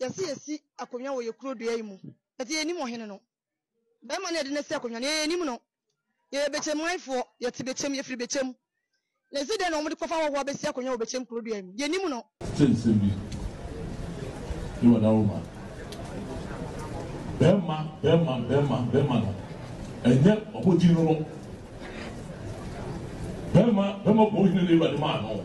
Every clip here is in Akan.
Yɛse yɛsi akonwa wɔ yɛ kuro dua yi mu but yɛnim ɔhene no. Bɛɛma no yɛde no asi akonwa no yɛ yɛnim no. Yɛyɛ Bekyem man foɔ, yɛte Bekyem, yɛfiri Bekyem. Na yɛse dɛn na wɔn de kɔfa ahɔhoɔ abɛsi akonwa wɔ Bekyem kuro dua yi mu? Yɛnim no. Te nsɛm bi. Yi wɔ da woma. Bɛɛma, bɛɛma, bɛɛma, bɛɛma no ɛnyɛ wɔn din no no. Bɛɛma, bɛɛma bɔ ɔhene no awurade maa no.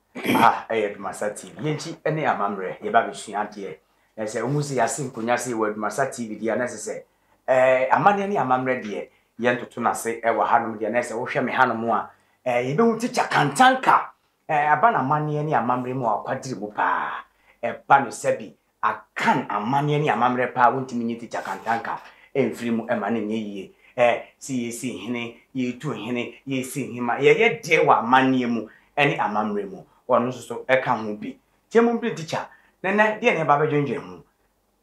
Aha yɛ Adomasa TV. Yɛn akyi ne amammerɛ. Yɛba abɛsua adeɛ. Na sɛ wohu sɛ yɛase nkonnwa sei wɔ Adomasa TV deɛ a, na ɛsɛ sɛ eh, amanneɛ ne amammerɛ deɛ yɛntoto no ase eh, wɔ hanom deɛ. Na sɛ wohwɛ me hanom a, eh, yɛbɛhu Tikya Kantanka. Eh, aba no amanneɛ ne amammerɛ mu a ɔkwadiri mu paa. Ɛba no sɛbi Akan amanneɛ ne amammerɛ paa wontumi nyi tikya kantanka mfiri mu ɛma no nyɛ yie eh se yɛsi hene yɛtu hene yɛsi hema yɛyɛ deɛ wɔ amanneɛ mu ɛne amammerɛ mu ɔno nso so ɛka ho bi nti ɛmu bere tikya nɛnɛ deɛ na yɛba abɛdwendwen ho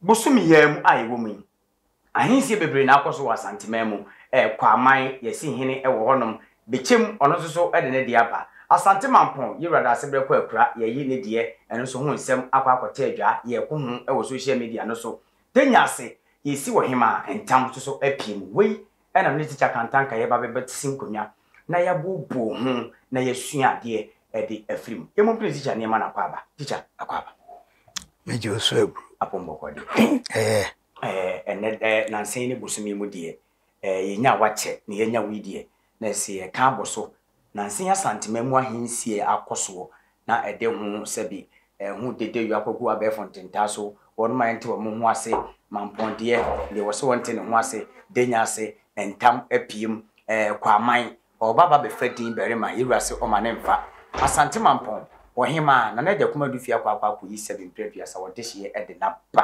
bosome yi ara mu a yɛwɔ mu yi. Ahensie bebree na akɔ so wɔ Asanteman mu, ɛ, Kwaman, Yɛsi Hene wɔ hɔnom, Bekyem, ɔno nso so de ne deɛ aba, Asante Mampɔn, Yewurade Aseberɛ kɔ akura, Yɛyi ne deɛ, ɛno nso ho nsɛm, akɔ akɔtɛ adwa, Yɛko ho wɔ social media no so, Tenya ase, Yɛsi Ɔhemaa ntam nso so apue mu. Wei na me ne Tikya Kantanka yɛba bɛbɛsi nkonnwa. na yɛbooboo ho na yɛasua adeɛ de afiri mu. Yɛmmɔ mpena Teacher nneɛma no akɔ aba. Teacher, akɔ aba. Mɛgye wo so aburo. Apɔmbɔkɔ deɛ. Ɛɛ. Ɛɛ, ɛnnɛ dɛ, nansa yi ne bosome yi mu deɛ, ɛɛ, yɛnya a wakyɛ na yɛanya wei deɛ, na ɛsɛ yɛka abɔ so. Nansa yi Asantema mu ahensie akɔ soɔ na ɛde ho sɛbi ɛho dedeyɔ akɔgu abɛɛfo ntentaa so, wɔn ma ɛnte wɔn ho ase, mampɔndeɛ, deɛ ɛwɔ sɛ wɔnte ne ho ase, denya ase, ntam, apiem, ɛɛ, kwaman, ɔɔba ba bɛfa din barima, yɛwura se ɔma ne mfa, Asante Mampɔn, Ɔhemaa, Nana Agya Kumadu fie akɔ akɔ akɔyi sɛbi mprɛ aduasa wɔ dehyeɛ de n'aba.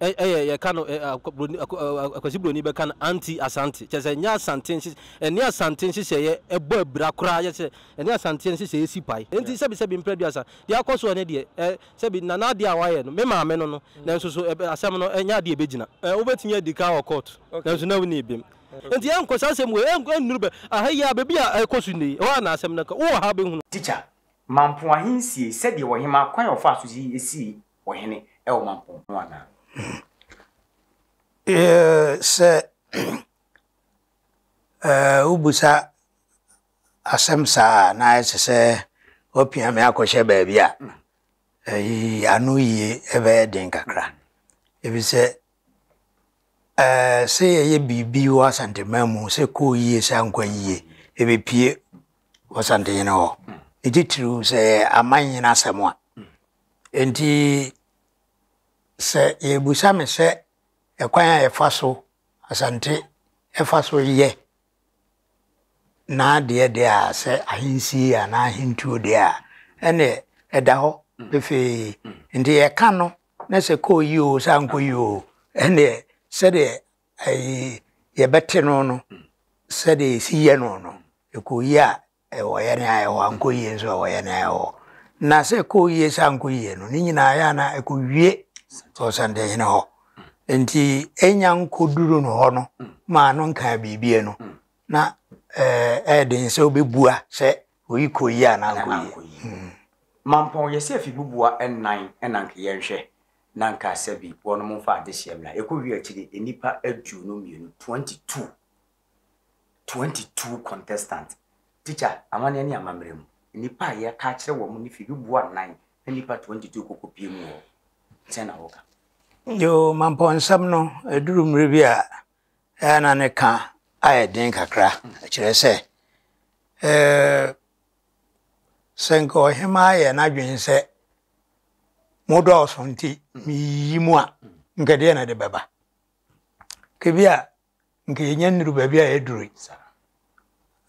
Ɛ ɛyɛ yɛka no ɛ akwa buroni akwa ɛ akwasi buroni bɛka no anti Asante kyerɛ sɛ ɛnyɛ Asante nhye ɛne Asante nhyehyɛeɛ ɛbɔ abira koraa yɛ sɛ ɛne Asanteɛ nhyehyɛeɛ si pae nti sɛbi sɛbi mprɛduasa deɛ akɔ soɔ no deɛ ɛ sɛbi na n'adeɛ a wayɛ no me maame no no nanso so ɛ asɛm no ɛnyɛ adeɛ a ɛbɛgyina ɛ wobɛtumi adi ka wɔ court nanso na wonni bem nti ɛnkɔ saa asɛm wei ɛn ɛnnuru bɛ aha yi a baabi a ɛkɔ so nnɛ yi ɛhɔ a na asɛm no kɔ wowɔ ha a wobɛhunu. Teacher, Mampoahe nsiei sɛdeɛ ɔhemaa kwan a ɔfaa so sii esii ɔhene wɔ ɔmampɔn ho anaa? Sɛ wobisa asɛm saa a, na ayɛ te sɛ woapia me akɔhyɛ baabi a ano yie ɛbɛyɛ den kakra. Efisɛ sɛ yɛyɛ biribi wɔ Asanteman mu sɛ kɔɔ yie sɛ ankɔ yie, ɛbɛpue wɔ Asantehene hɔ. Ne titiriw sɛ ɛyɛ amannyene asɛm a, Enti, sɛ yɛrebisa me sɛ ɛkwan a yɛfa so, Asante fa so yɛ n'adeɛ deɛ a, sɛ ahensie anaa ahentuo deɛ a, ɛnneɛ ɛda hɔ pefee. Nti yɛka no na sɛ kɔɔ yie o, sɛ ankɔ yie o, ɛnneɛ sɛdeɛ ɛyi yɛbɛte no no, sɛdeɛ yɛsi yɛ no no, ɛkɔɔ yie a Wɔyɛ nea ɛyɛ hɔ, ankɔ yie nso a wɔyɛ nea ɛyɛ hɔ. Na sɛ ɛkɔɔ yie sɛ ankɔ yie no, ne nyinaa yɛ a na ɛkɔwie Ɔsantehene hɔ. Nti ɛnya nkɔduru no hɔ no maa no nkaa biribiara no, na ɛyɛ den sɛ wobɛbua sɛ wei kɔɔ yie anaa ankɔ yie. Mampɔn, yɛsɛ afi buboa nnan na anka yɛnhwɛ, na anka sɛbi wɔnom mfa adehyeɛ mmra. Ɛkɔwie akyire nnipa aduonu mmienu, 22, twenty two contestant Teacher amanneɛ ne amammerɛ mu Nnipa a yɛreka akyerɛ wɔn no fi Duboa nnan na nnipa twenty two kɔkɔpue mu wɔ hɔ Sɛn na woka? Yoo, mampɔnsɛm no, ɛduru mmerɛ bi a ɛyɛ a na ne ka ayɛ den kakra Ɛkyerɛ sɛ, eh, sɛ nka ɔhemaa yɛ n'adwene sɛ mo dɔɔso nti meyiyi mo a, nka deɛn na ɛde bɛba? Ka bi a nka yɛnya nnuru baabi a yɛaduru yi saa.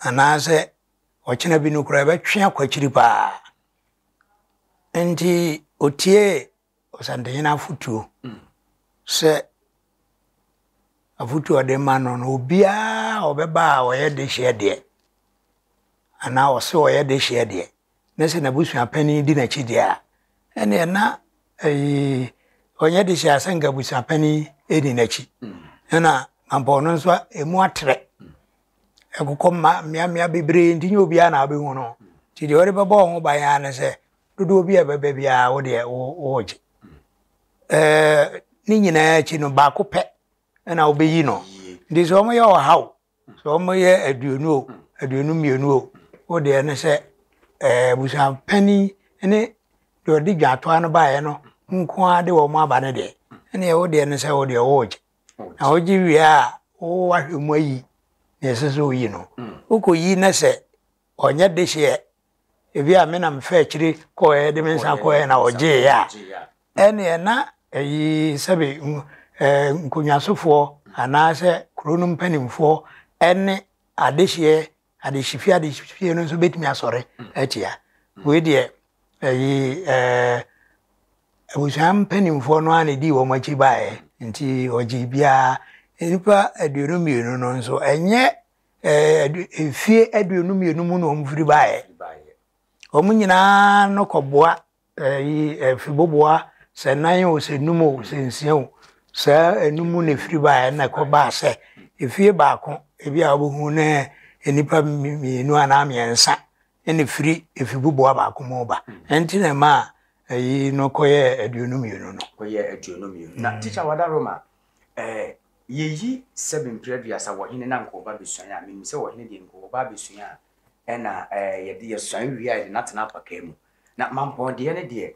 Anaasɛ ɔkyena bi no koraa ɛbɛtwe akɔ akyiri paa. Nti otie ɔsantehene afotuo mm. sɛ afotuo ɔde ma no no obiara ɔbɛba a ɔyɛ de hyeɛ deɛ anaa ɔse ɔyɛ de hyeɛ deɛ na sɛ n'abusua panyin di n'akyi deɛ a, ɛnneɛ na ɛyi ɔnyɛ de hyɛ asɛ nka abusua panyin di n'akyi. Ɛna mampɔn no nso emu atrɛ. Ɛkokɔ mma mmeammea bebree nti nyɛ obiara na wobɛhu no. Nti deɛ wɔde bɛbɔ wɔn ho ban ara ne sɛ dodoɔ bi a ɛbɛba biara wo deɛ wogye. Ɛɛ ne nyinaa akyi no baako pɛ na wobɛyi no. Nti sɛ wɔyɛ ɔhaw Sɛ wɔyɛ aduonu o, aduonu mmienu o, wo deɛ ne sɛ ɛɛ abusuapanin ne deɛ ɔde dwatoa no baeɛ no nko ara de wɔn aba no deɛ, ɛnneɛ wo deɛ ne sɛ wo deɛ woregye. Na wogye wie a, wowahwɛ mu ayi deɛ ɛsɛ sɛ woyi no. Wokɔyi na sɛ ɔnyɛ dehyeɛ ebi a me na mefaa akyire kɔeɛ de me nsa kɔeɛ na ɔgyeeɛ a ɛneɛ na ɛyi sɛbe nkonnwasofoɔ anaasɛ kuro no mpanimfoɔ ɛne adehyeɛ adehyefie adehyefie no nso bɛtumi asɔre atia wei deɛ ɛyi ɛɛ abusua mpanimfoɔ no a na ɛdi wɔn akyi baeɛ nti ɔgye biara nnipa aduonu mmienu no nso ɛnyɛ ɛɛ mfie aduonu mmienu mu na wɔn firi baeɛ wɔn nyinaa no kɔboa ɛyi ɛfiboboa sɛ nan o sɛ num o sɛ nsia o saa enum mu na efiri baeɛ na ɛkɔ baa sɛ efie baako ebi a wɔbɛhu ne nnipa mmienu anaa mmiɛnsa ɛna efiri efiboboa baako mu ba ɛnti na ɛma ɛyi no kɔyɛ aduonu mmienu no. kɔyɛ aduonu mmienu na tikya wada roma ɛɛ Yeyi sɛbe mpere aduasa wɔ hene na anka ɔba besuan a, menim sɛ wɔ hene deɛ nka ɔba abesua a ɛna ɛɛ yɛde yɛsuan wie a yɛde no atena apakaa mu. Na mampɔn deɛ no deɛ,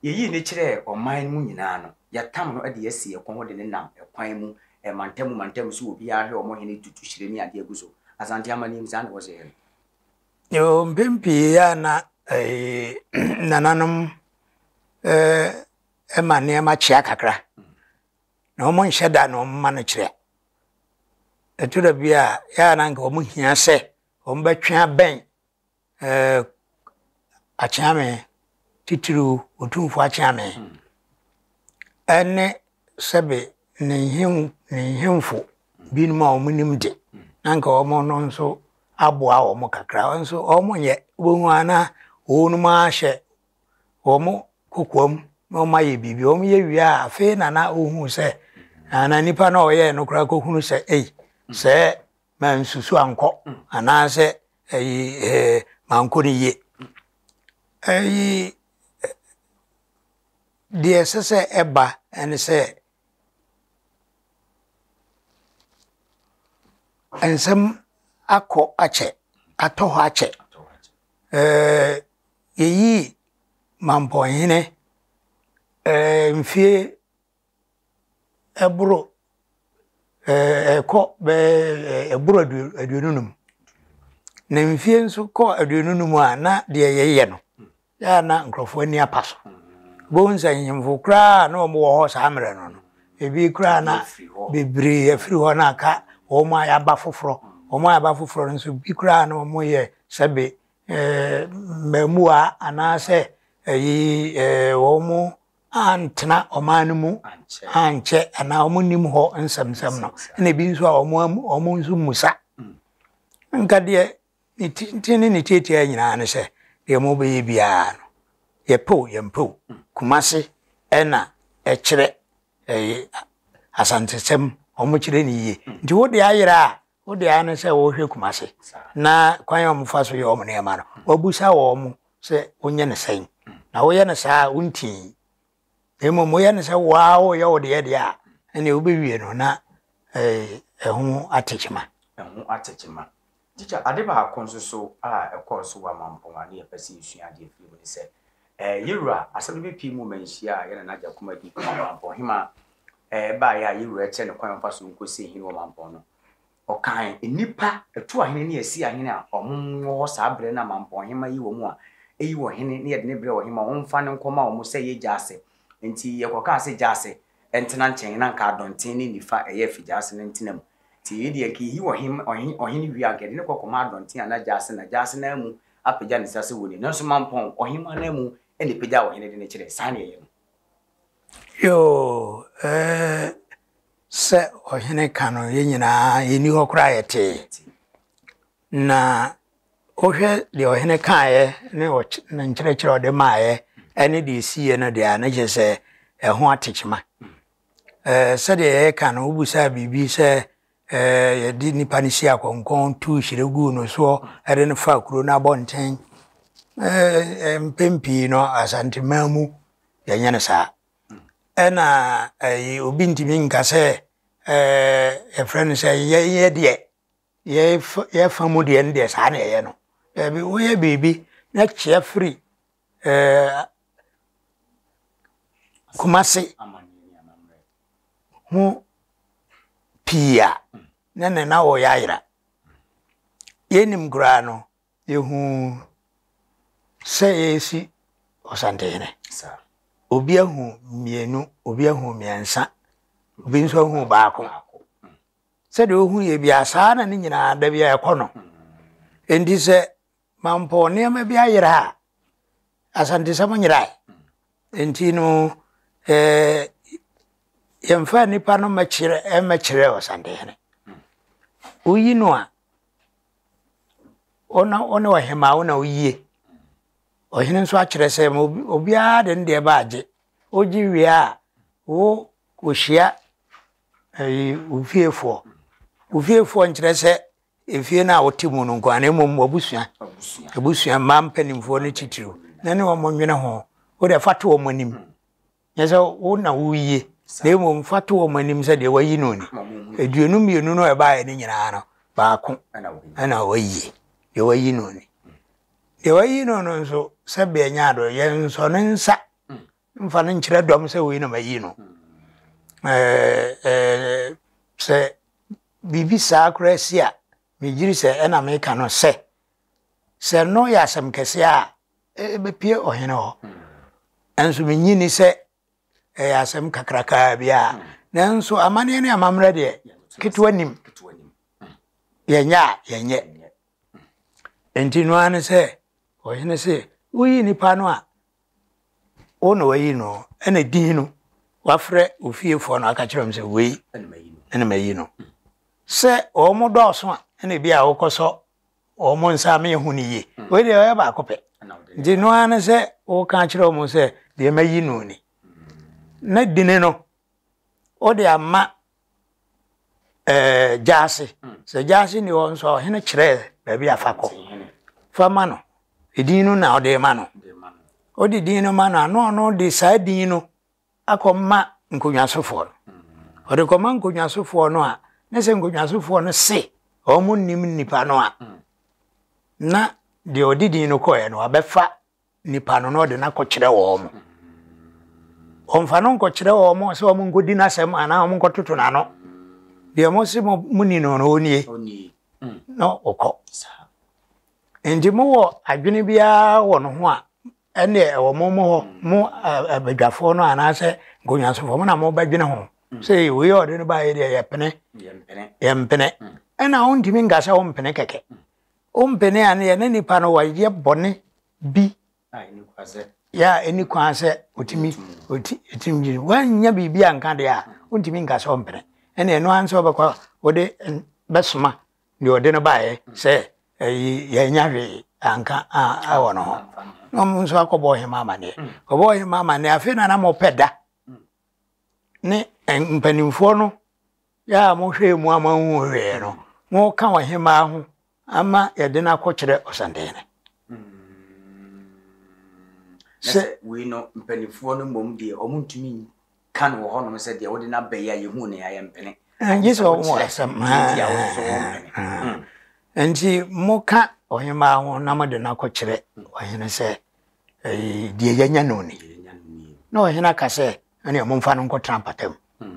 yeyii no kyerɛɛ ɔman no mu nyinaa no, yɛatam no de asi ɛko ho de no nam ɛkwan mu, mantamu mantamu so wɔ biara hwɛ wɔn hene tutu hyire ne adeɛ gu so. Asante amanneɛm saa na wɔsɛ yɛ no. Yoo, mpɛn pii a na ɛɛ nananom ɛɛ ɛma nneɛma kyea kakra. na wɔnhyɛ da na wɔma no kyerɛ. Ɛto da bi a, yɛa na nka wɔhia sɛ wɔbɛtwe abɛn eh, akyeame, titiriw Otumfo akyeame, hmm. ɛne sɛbe ne nhemfo binom a wɔnim de na nka wɔn no nso aboa wɔn kakra nso wɔn yɛ wɔn ana wɔn mu ahyɛ wɔn kokoam na wɔn ayɛ biribi wɔn yɛ wie a afei na na ohun sɛ na nipa na ɔyɛɛ no koraa kohunu sɛ ei sɛ mansusu ankɔ anaasɛ ɛyi ɛɛ mankɔ ne yie ɛyi deɛ ɛsɛ sɛ ɛba ɛne sɛ nsɛm akɔ akyɛ atɔ hɔ akyɛ ɛɛ. Yɛyii Mampɔnhene eh, mfie ɛboro eh, ɛkɔ bɛɛ eh, ɛboro aduonu num na mfie nso kɔ aduonu num a na deɛ yɛyɛ no yɛa na nkurɔfoɔ ani apa so bohu sɛ nhemfo koraa na wɔn wɔ hɔ saa mmerɛ no no ebi koraa na bebree afiri hɔ na aka wɔn a yɛaba foforɔ wɔn a yɛaba foforɔ no nso bi koraa na wɔn yɛ sɛbe Mmaamua anaasɛ ɛyi wɔn antena ɔman no mu ankyɛ anaa wɔn nnim hɔ nsɛmnsɛm no ɛna ebi nso a wɔn wɔn nso mmusa nka deɛ ne tenten ne ne tiatia nyinaa no sɛ deɛ wɔn bɛyɛ biara no yɛpɛw yɛmpɛw kumase ɛna ɛkyerɛ ɛyɛ asantesɛm wɔn kyerɛ ne yie nti wo de ayera a Wo de ara ne sɛ wɔhwɛ Kumasi na kwan a wɔfa so yɛ wɔn nneɛma no, wɔabisa wɔn sɛ wɔnyɛ no sɛn. Na woyɛ no saa a, wontii. Na mmom woyɛ no sɛ wo ara woreyɛ wo deɛ deɛ a, ɛnneɛ wobɛwie no na ɛho ate kyema. Ɛho ate kyema. Tikya, ade baako nso so a ɛkɔɔ so wɔ Amampong a na yɛpɛ sɛ yɛsua adeɛ firi mu ne sɛ, yɛn wura Asɛm no bɛpue mu ma nhyia a yɛn Nana Agya Kumadi, Amampong Hemmaa, ɛbaeɛ a yɛn Wura kyerɛɛ no kwan a ɔmfa so nkɔsie hene wɔ mampɔn no, ɔkaa nnipa, atuahene ne asiahene a wɔwɔ hɔ saa berɛ no a mampɔnhema yi wɔ mu a, Eyi wɔ hene na yɛde no brɛ ɔhene ma ɔmfa no nkɔma wɔn sɛ ɛyɛ gyaase. Enti yɛkɔkaa sɛ gyaase ntena nkyɛn, na anka Adɔnten ne Nifa ɛyɛ afi gyaase no ntena mu. Enti yei deɛ, anka yɛyi wɔ hene ɔhene wie a, anka yɛde no kɔ kɔma Adɔnten anaa gyaase na gyaase no ammu apagya ne nsa sɛ wɔnni, nanso mampɔn ɔhema no ammu na ɛpagyaa ɔhene de no kyerɛ. Saa na yɛyɛ no. Yoo ee sɛ ɔhene ka no yɛn nyinaa yɛnni hɔ koraa yɛtee na wohwɛ deɛ ɔhene kaeɛ ne ne nkyerɛkyerɛ ɔde maaeɛ ɛne deɛ ɛsiiɛ no deɛ a na kyerɛ sɛ ɛho atekyema sɛdeɛ yɛka no wobusaa biribi sɛ ɛɛ yɛde nipa no si akɔnkɔn tu hyire gu no soɔ ɛde no fa kuro no abɔnten ɛɛ mpɛn pii no asanteman mu yɛnyɛ no saa ɛna ɛyi obi ntumi nka sɛ ɛɛ yɛfrɛ no sɛ yɛyɛ deɛ yɛfa yɛfa mu deɛ no deɛ saa na yɛyɛ no daabi woyɛ biribi na kyea firi ɛɛ Kumasi. ho pii a, na nnɛ na wɔreyɛ ayera. Yɛnnim koraa no, yɛhuu sɛ yɛresi Ɔsantehene. Obi ahu mmienu, obi ahu mmiɛnsa, obi nso ahu baako. Sɛdeɛ ɔhu yɛ biara, saa na ne nyinaa da bi a ɛkɔ no. Enti sɛ Mampɔ nneɛma bi ayera a, Asantesan nyerae. Nti no, yɛmfa nnipa no mmɛkyerɛ Ɔsantehene. Woyi no a, wo na wo ne ɔhemaa wo na woyie. Ɔhene nso akyerɛ sɛ ma obiara de ne deɛ ba agye. Wogye wie a, wo kɔhyia wo fiefoɔ. Wo fiefoɔ nkyerɛ sɛ Efie no a wote mu no nko ara, na mmom w'abusua, abusua, mmaa mpanimfoɔ no titiriw, na ne wɔn nwene ho. Wo deɛ fa to wɔn anim. Nyɛ sɛ wo na woyie, na mmom fa to wɔn anim sɛ deɛ wayi no ni. Aduonu mmienu no a ɛbaeɛ no nyinaa no, baako na wayi, deɛ wayi no ni. Deɛ wayi no no nso, sɛbea nya adɔe, yɛnsɔ ne nsa Mfa no nkyerɛ dɔm sɛ wei na mayi no. Sɛ biribi saa koraa si a, megyiri sɛ ɛna meka no sɛ, sɛ no yɛ asɛm kɛseɛ a, ɛbɛpue ɔhene hɔ. Nanso menyi ni sɛ ɛyɛ asɛm kakrakaa bi a. Nanso amanneɛ ne amammerɛ deɛ, ketewa nim. Yɛnyɛ a, yɛnyɛ. Enti no ara ne sɛ, ɔhene se, woyi nnipa no a, Wo na woayi no o, ɛna di no. Wafrɛ wo fiefoɔ na waka kyerɛ wɔn sɛ wei ɛna mayi no. Sɛ wɔn dɔɔso a, ɛna ebi a wokɔsɔ wɔn nsa ama yɛhu no yie. Wei deɛ ɔyɛ baako pɛ. Nti no ara ne sɛ woka kyerɛ wɔn sɛ deɛ mayi no ni. Na dini no, wode ama ɛɛ gyaase hmm. sɛ gyaase ni hɔ nso a ɔhene kyerɛ baabi afa kɔ fa ma no edin no na ɔde ma no ɔde din no ma no ano ɔno de saa din no akɔ ma nkonnwasofoɔ no hmm. ɔde kɔ ma nkonnwasofoɔ no a ne sɛ nkonnwasofoɔ no se wɔn nim nipa no a hmm. na deɛ ɔde din no kɔɛ no abɛfa nipa no na ɔde no akɔkyerɛ wɔn mo ɔmfa no nkɔkyerɛ wɔn mo sɛ wɔn nkɔdi n'asɛm anaa wɔn nkɔtoto n'ano deɛ mo se mo ni no no ɔnie na ɔkɔ nti mowɔ adwene biara wɔ no ho a ɛne ɛwɔ mo mo hɔ mo abadwafoɔ no anaasɛ nkonnwansofoɔ mo na mobɛdwene ho mm. sɛ wei ɔde no baeɛ deɛ yɛpene yɛmpene mm. ɛna wontumi nka sɛ wompene kɛkɛ mm. Wo mpene a na yɛne nipa no wɔyɛ bɔne bi yɛ a ɛni kwan sɛ ɔtumi ɔtumi gye woannya biribi a nka deɛ a wontumi nka sɛ ɔmpene ɛne ɛno ara sɛ wobɛkɔ wode bɛsoma deɛ ɔde no baeɛ sɛ yɛanya hwee anka awɔ no ho na ɔmo nso akɔbɔ ɔhema amanneɛ ɔbɔ ɔhema amanneɛ afei na na mopɛ da ne mpanimfoɔ no Yɛ a mohwɛɛ mu ama wohuu hwee no, moka ɔhemmaa ho ama yɛde no akɔkyerɛ ɔsɛnkɛne. Sɛ wei no mpanimfoɔ no mmom deɛ wɔn ntumi nka no wɔ hɔnom sɛ deɛ wode no aba yi a yɛhuu no yɛayɛ mpene. Gye sɛ wɔn wɔ asɛm. Nti moka ɔhemmaa ho na mode no akɔkyerɛ ɔhene sɛ deɛ yɛanya no ni. Na ɔhene aka sɛ, ɛne momfa no nkɔtena mpatam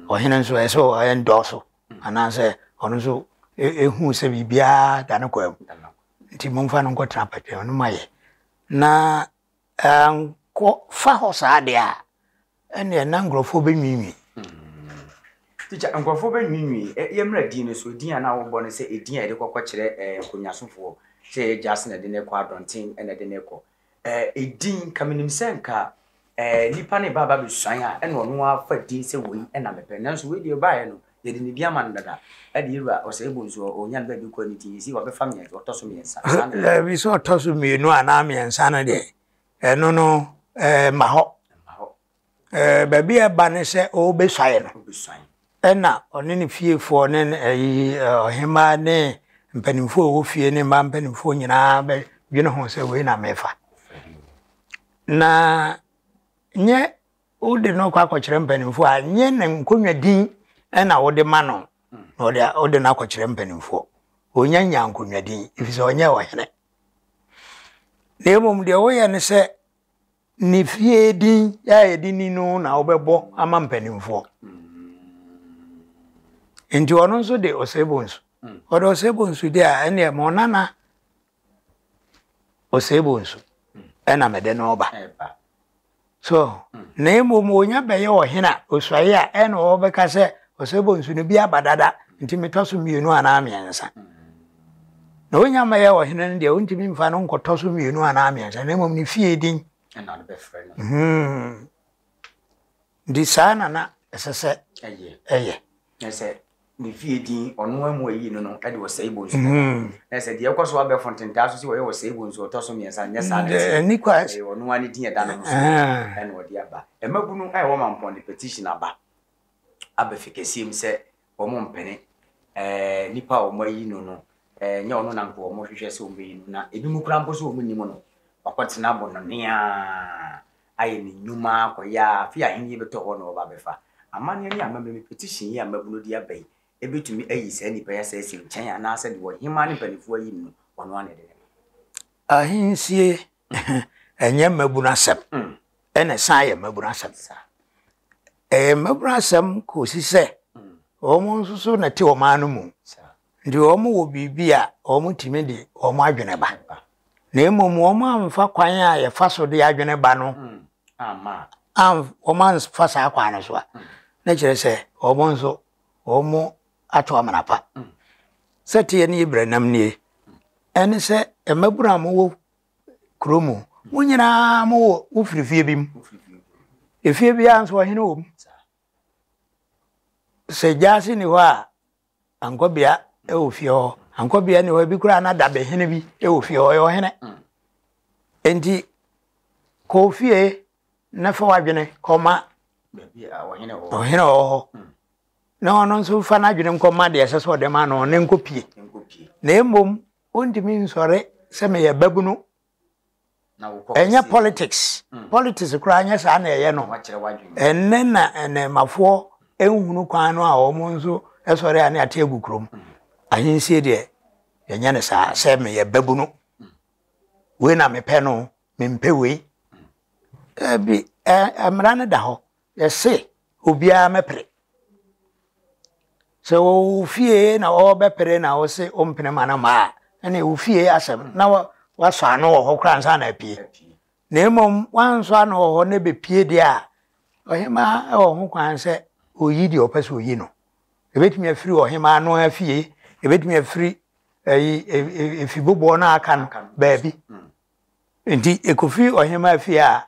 ɔhene nso ɛsɛ ɔyɛ ndɔɔso anaasɛ ɔno nso ɛhu sɛ biribiara da no kwaa mu nti momfa no nkɔtena mpatam no ma yɛ na nkɔ fa hɔ saa deɛ a ɛneɛ na nkurɔfoɔ bɛnwinwi tikya nkurɔfoɔ bɛnwinwi yɛmmra din no so din a na wobɔ no sɛ ɛdin a yɛde kɔkɔ kyerɛ nkonnwasofoɔ sɛ yɛ gyase na ɛde ne kɔ adɔnten na ɛde ne kɔ Eh, din, nka menim sɛ nka eh, nipa ne ba ba bɛsuan a ɛna ɔno ara fa din sɛ wei ɛna mepɛ nanso wei deɛ ɔbaeɛ no yɛde ne din ama no dada ɛde yɛwura ɔsɛe bo nso ɔnya no baabi kɔ ne din ɛsi wabɛfa mmiɛnsa ɔtɔ so mmiɛnsa saa ne daabi sɛ ɔtɔ so mmienu anaa mmiɛnsa no deɛ ɛno no eh, ma hɔ Ɛɛ baabi a ɛba ne sɛ ɔrebesuae no, ɛnna ɔne ne fiefoɔ ne ne ayi ɔhemmaa ne mpanimfoɔ a wɔwɔ fie ne mmaa mpanimfoɔ nyinaa bɛdwene ho sɛ wei na mefa. Na nyɛ wode no kɔ akɔkyerɛ mpanimfoɔ a nyɛ ne nkonnwa din na wode ma no na ɔde wode no akɔkyerɛ mpanimfoɔ. Ɔnya nya nkonnwa din ɛfiri sɛ ɔnyɛ ɔhene. Na mmom deɛ woyɛ ne sɛ Ne fie din a yɛde ni no na wobɛbɔ ama mpanimfoɔ. Nti ɔno nso de Osebonsu. Hmm. Ɔde Osebonsu de a ɛneɛ ma ɔnana Osebonsu hmm. ɛna mede no ɔba. So hmm. na mmom onya bɛyɛ ɔhene a osuae a ɛna ɔbɛka sɛ Osebonsu no bi aba dada nti metɔ so mmienu anaa mmiɛnsa. Na onya mmɛyɛ ɔhene no deɛ, ontumi mfa no nkɔtɔ so mmienu anaa mmiɛnsa, na mmom ne fie din. Ɛna no bɛfrɛ no. Hmm. Nti saa na na ɛsɛ sɛ ɛyɛ. Na sɛ ne fie din, ɔno amu ayi no no, ɛde ɔsɛe bɔ nsu bɛba. Hmm. Na sɛ deɛ ɛkɔ so abɛ fontentaa so sɛ wɔyɛ ɔsɛe bɔ nsu ɔtɔ so mmiɛnsa, nyɛ saa na ɛteɛ. Ɛni kwa. Ɛyɛ ɔno ara ne din ɛda ne ho so ɛna ɔde aba. Mmabunu a ɛwɔ mampɔn de petition aba, aba fikasiem sɛ. wɔn mpene nipa a wɔn ayi no no nyɛ ɔno na nka wɔn hwehwɛ sɛ wɔn bɛyi no na ebi mu kura mpo sɛ wɔn nim no wakɔtena bɔ no nea ayɛ ne nnwuma akɔyɛ afi ahenni bɛtɔ hɔ na wɔba bɛfa amanneɛ ne amammerɛ petition yi a mmabunu de aba yi ebetumi ayi saa nipa yi asɛ asi nkyɛn anaasɛ deɛ ɔhemaa ne mpanimfoɔ ayi no ɔno ano de ne ahensie ɛnyɛ mmabunu asɛm ɛna san yɛ mmabunu asɛm Ɛyɛ mmabunu asɛm kɔsi sɛ wɔn nso so na te wɔn ano mu. Nti wɔn wɔ biribi a wɔn tumi de wɔn adwene ba. Na mmom wɔn amfa kwan a yɛfa so de adwene ba no wɔn amfa saa kwan no so a na kyerɛ sɛ wɔn nso wɔn ato amena pa. Sɛ teɛ ne yɛ brenam nie ɛne sɛ mmabunu a mowɔ kuro mu. Mo nyinaa mo wɔ mo firi fie bi mu. Efie biara nso ɔhene wɔ mu. Sɛ gyaase ni hɔ a, ankɔbea wɔ fie hɔ. Ankɔbea ni hɔ ebi koraa na dabehene bi wɔ fie hɔ. Ɔyɛ ɔhene. Enti kɔ fie na fa w'adwene kɔma ɔhene wɔ hɔ. na ɔno nso mfa n'adwene nkɔma deɛ ɛsɛ sɛ ɔde ma no ne nkɔpie na mmom Wontumi nsɔre sɛ meyɛ babunu. Ɛnyɛ politics. Hmm. Politics koraa nyɛ saa na ɛyɛ no. Ɛnnɛ na nnɛmafoɔ nhunu kwan no a wɔn nso sɔre a ne ate agu kurom. Hmm. Ahensie deɛ yɛnyɛ no saa sɛ meyɛ babunu. Hmm. Wei na mepɛ no, mempɛ wei. Ɛbi mmara no da hɔ. Yɛse obiara mɛpere. Sɛ ɔwɔ wo fie na ɔrebɛpere na wose ompene ma no mma a, ɛne wo fie asɛm na wasɔ ano wɔ hɔ koraa ansa na apue. Na mmom wansɔ ano wɔ hɔ na ɛbɛpue deɛ a, ɔhemaa wɔ ho kwan sɛ ɔyi deɛ ɔpɛ sɛ ɔyi no. Ɛbɛtumi afiri ɔhemaa no ara fie, ɛbɛtumi afiri ɛyi efiboboɔ no aka no baabi. Nti ɛkɔfiri ɔhemaa fie a,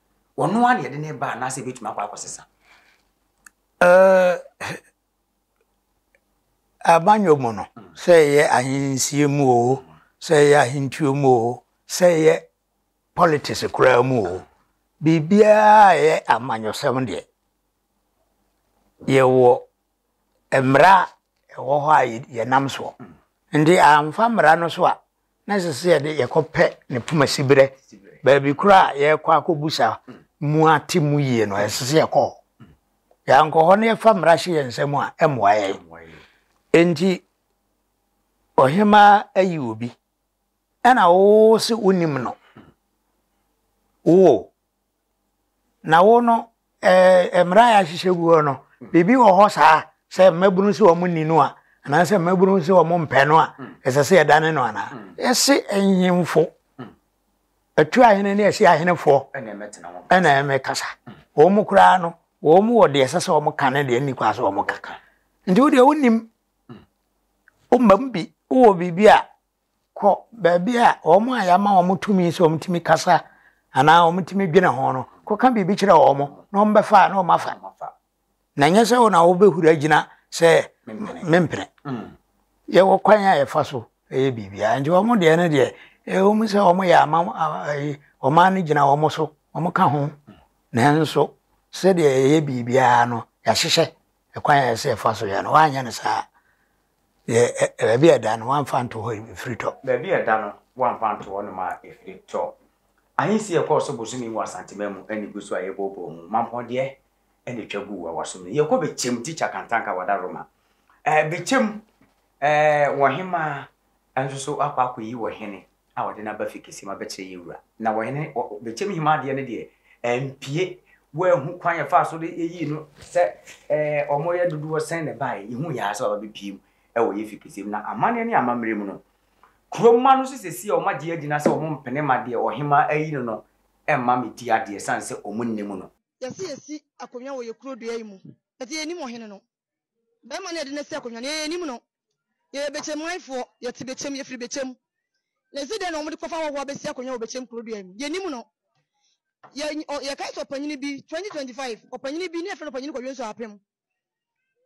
Ɔno ara na yɛde no reba anaasɛ ebetumi akɔ akɔsesa? Ɛɛ, abanyɔ mu no, sɛ ɛyɛ ahensie mu o, sɛ ɛyɛ ahentuo mu o, sɛ ɛyɛ politics koraa mu o, biribiara a ɛyɛ amanyɔsɛm deɛ, yɛwɔ mmara a ɛwɔ hɔ a yɛnam soɔ. Nti amfa mmara no so a, na ɛsɛ sɛ yɛde yɛkɔpɛ ne poma siberɛ baabi koro a yɛrekɔ akɔbusa mu ate mu yie no ɛsɛ sɛ yɛkɔ hɔ yɛankɔ hɔ na yɛfa mmara hyɛ yɛn nsam a ɛmmoa yɛn enti ɔhemaa ayi obi ɛna wo se wonim no wo Na wo no, ɛɛ mmara a yɛahyehyɛ gu hɔ no, biribi wɔ hɔ saa sɛ mmabunu sɛ wɔn nni no a, anaasɛ mmabunu sɛ wɔn mpɛ no a, ɛsɛ sɛ yɛdane no anaa? Yɛse nhemfo, atu ahene ne asi ahenefoɔ ɛna ɛmɛkasa. Wɔn koraa no, wɔn wɔ deɛ ɛsɛ sɛ wɔn ka ne deɛ nni kwa sɛ wɔn ka. Nti wo deɛ wonim, wo mmam bi, wowɔ biribi a kɔ baabi a wɔn a yɛama wɔn tumi sɛ wɔtumi kasa anaa wɔtumi dwene ho no kɔka biribi kyerɛ wɔn na wɔbɛfa a na wɔafa na nyɛ sɛ wo na wobɛhura gyina sɛ mempene mm. yɛwɔ kwan a yɛfa so ɛyɛ biribiara nti wɔn deɛ no deɛ ɛwɔ mu sɛ wɔn yɛ ama ɔman no gyina wɔn so wɔn ka ho nanso sɛdeɛ ɛyɛ biribiara no yɛahyehyɛ ɛkwan a yɛsɛ ɛfa so yɛ no wɔanyɛ no saa Yɛ ɛ baabi a ɛda no wɔamfa anto hɔ a ɛfiri tɔ. Baabi a ɛda no wɔamfa anto hɔnom a ɛfiri tɔ. Ahensi a ɛkɔɔ so bosome mu wɔ Asanteman mu ne gu so a yɛbooboo mu. Mampɔn deɛ na ɛtwa guu awasom no. Yɛkɔ bɛkyɛm Tikya Kantanka wada Roma. Ɛɛ bɛkyɛm ɛɛ wɔhemaa nso so akɔ akɔyi wɔhene. a ɔde no aba fi kɛseɛ mu abɛkyerɛ yɛn wura. Na ɔhene, bɛkyɛm hema adeɛ no deɛ, ampue, wɔanhu kwan a ɛfaa so de yɛyii no sɛ ɛɛ wɔyɛ dodoɔ sɛn na ɛbaeɛ. Yɛhuu yɛn ara sɛ baba bɛpue mu wɔ yɛn fi kɛseɛ mu. Na amanneɛ ne amammerɛ mu no, kuro mma no nso seesei a wɔagye agyina sɛ wɔmpene ma deɛ ɔhema ayi no no mma mmɛdi adeɛ ɛsiane sɛ wɔnnim no. Yɛse yɛsi akonnwa wɔ yɛn kuro dua yi mu, ɛdeɛ yɛnnim ɔhene no. Bɛrima no a yɛde no asi akonnwa no, yɛn yɛn nim no. Yɛyɛ Bekyem manfoɔ. Yɛte Bekyem, yɛfiri Bekyem. Na ɛsi dɛn na wɔde kɔfa ahɔhoɔ abɛsi akonnwa wɔ Bekyem kurodua yi mu? Yɛnnim no. Yɛ, ɔ, yɛkae sɛ ɔpanyini bi, 2025, ɔpanyini bi, na yɛfrɛ no Ɔpanyini Kwadwo Nsuo Apem.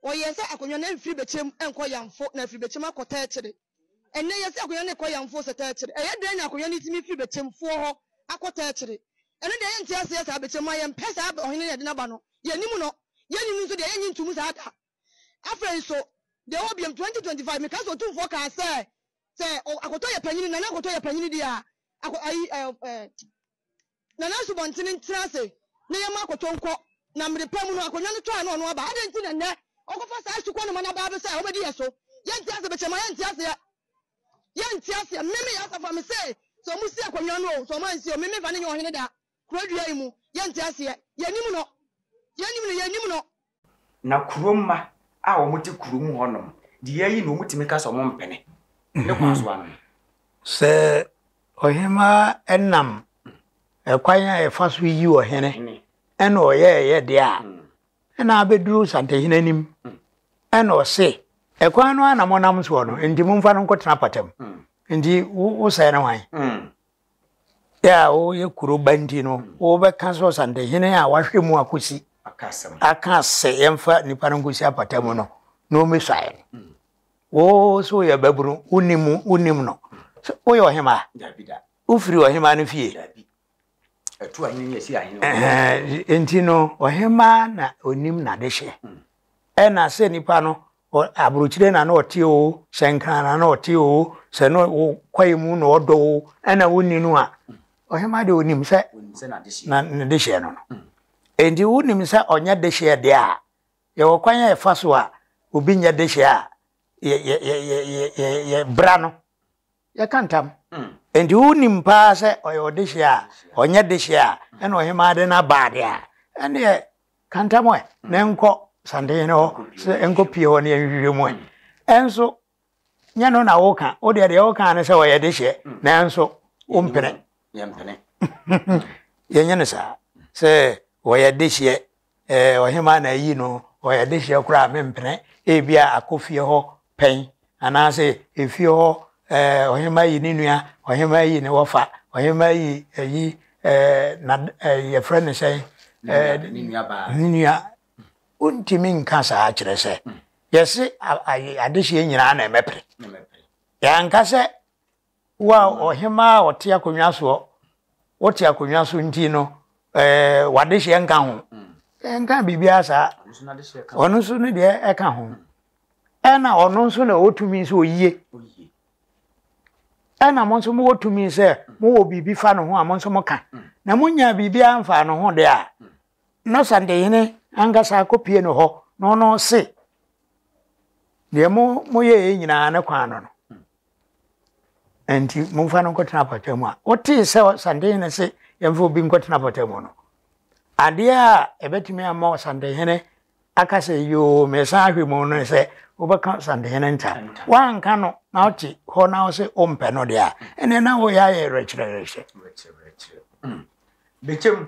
Wɔyɛɛ sɛ akonnwa no mfiri Bekyem nkɔ Yamfo, na afiri Bekyem akɔ Tɛkyere. Ɛnnɛ, yɛse akonwa no kɔ yamfoo sɛ tɛɛkyere. Ɛyɛ dɛn na akonwa no tumi firi bɛkyɛmfoɔ hɔ akɔ tɛɛkyere? Ɛno deɛ yɛnte aseɛ saa, bɛkyɛ mu a yɛmpɛ saa ɔhene no a yɛde no aba no, yɛnnim no, yɛnni no nso deɛ yɛnnye ntom saa da. Afei nso, deɛ ɛwɔ biam, 2025, meka sɛ otumfoɔ kaa sɛ sɛ akotɔ yɛ panyini, nana akotɔ yɛ panyini deɛ a, ako, ayi, ɛɛ, ɛɛ, na n'asubɔnten ntena ase na yɛmma akɔtɔ nkɔ, na mmere pa mu no akonnwa no tɔ a na ɔno aba. Adɛn nti na nnɛ ɔkɔfa saa asukɔ no ma no aba bɛsɛ a ɔbɛdi yɛn so? Yɛnte ase, mekyerɛ mo a, yɛnte aseɛ. Yɛnte aseɛ. Meme yɛn asafo a mese, sɛ wɔsi akonnwa no o, sɛ wɔansi o, meme mfa no nyɛ ɔhene da, kuro dua yi mu. Yɛnte aseɛ. Yɛnnim no. Yɛnnim no, yɛnnim no. Na kuro mma a wɔn te kuro mu hɔ nom deɛ yɛayi no wɔn tumi ka sɛ wɔn mpene ne kwan so anom. Sɛ ɔhemaa nam ɛkwan a ɛfa so yi ɔhene ɛna ɔyɛ ɛyɛ deɛ a ɛna abɛduru santehene anim ɛna ɔse ɛkwan no ara na monam soɔ no nti momfa no nkɔtena apata mu nti wosɛe no hwan? a woyɛ kuro ba nti no wobɛka sɛ ɔsantehene a wahwɛ mu akosi aka sɛ yɛmfa nipa no nkosi apata mu no na ɔmmɛsuaeɛ no mm. wo so woyɛ babunu wonim wonim no woyɛ ɔhema wofiri ɔhema no fie nti no ɔhema na ɔnim nade hyɛ mm. Ɛna sɛ nipa no ɔ abrokyire na na ɔte oo, sɛ Nkran na na ɔte oo, sɛ na ɔ kwaeɛ mu na ɔdɔ oo, ɛna wonni no a, ɔhemaa deɛ ɔnim sɛ na ne dehyeɛ no no. Enti wonim sɛ ɔnyɛ dehyeɛ deɛ a, yɛwɔ kwan a yɛfa so a obi nyɛ dehyeɛ a, yɛ yɛ yɛ yɛ yɛ yɛ yɛbra no Yɛka ntam. Enti wonim paa sɛ ɔyɛ ɔdehyeɛ a, ɔnyɛ dehyeɛ a, ɛna ɔhemaa de no aba adeɛ a, ɛnneɛ ka ntam ɛ, na ɛnkɔ Santehene hɔ sɛ ɛnkɔpue hɔ na yɛnhwehwɛ mu ɛ. Ɛnso, nyɛ ɛno na woka. Wo deɛ, deɛ woka ara ne sɛ ɔyɛ dehyeɛ, nanso wompene. Yɛnyɛ no saa. Sɛ ɔyɛ dehyeɛ Eh, ɔhemaa na ayi no, ɔyɛ adehyeɛ koraa a mempene, ebia akɔ fie hɔ pɛn, anaasɛ efie hɔ eh, ɔhemaa yi ne nua, ɔhemaa yi ne wɔfa, ɔhemaa yi ayi eh, na eh, yɛfrɛ no sɛn eh, ne nua. Wontumi nka saa kyerɛ sɛ yɛse adehyeɛ nyinaa na ɛmɛpere. Yɛanka sɛ Wo a ɔhemmaa a ɔte akonnwa soɔ, wote akonnwa so nti no, ɛɛ w'adehyeɛ nka ho. Ɛnka biribiara saa. Ɔno nso ne deɛ ɛka ho. Ɛna ɔno nso na ɔwɔ tumi sɛ ɔyie. Ɛna mo nso mowɔ tumi sɛ mowɔ biribi fa no ho a mo nso moka. Na monyaa biribiara mfaa no ho deɛ a, na Santehene ankasa akɔpie no hɔ na ɔno se deɛ mo moyɛɛ nyinaa ne kwan no no. Enti momfa no nkɔtena apɔtaa mu a. Wotee sɛ ɔsantehene se yɛmfa obi nkɔtena apɔtaa mu no, adeɛ a ɛbɛtumi ama ɔsantehene aka sɛ yoo mesan ahwɛ mu no sɛ wobɛka ɔsantehene ntam. Woanka no na ɔte hɔ na ɔse wompɛ no deɛ a, ɛnneɛ na woyɛ ayɛ werɛkyerɛwerɛkyerɛ. Bɛkyɛm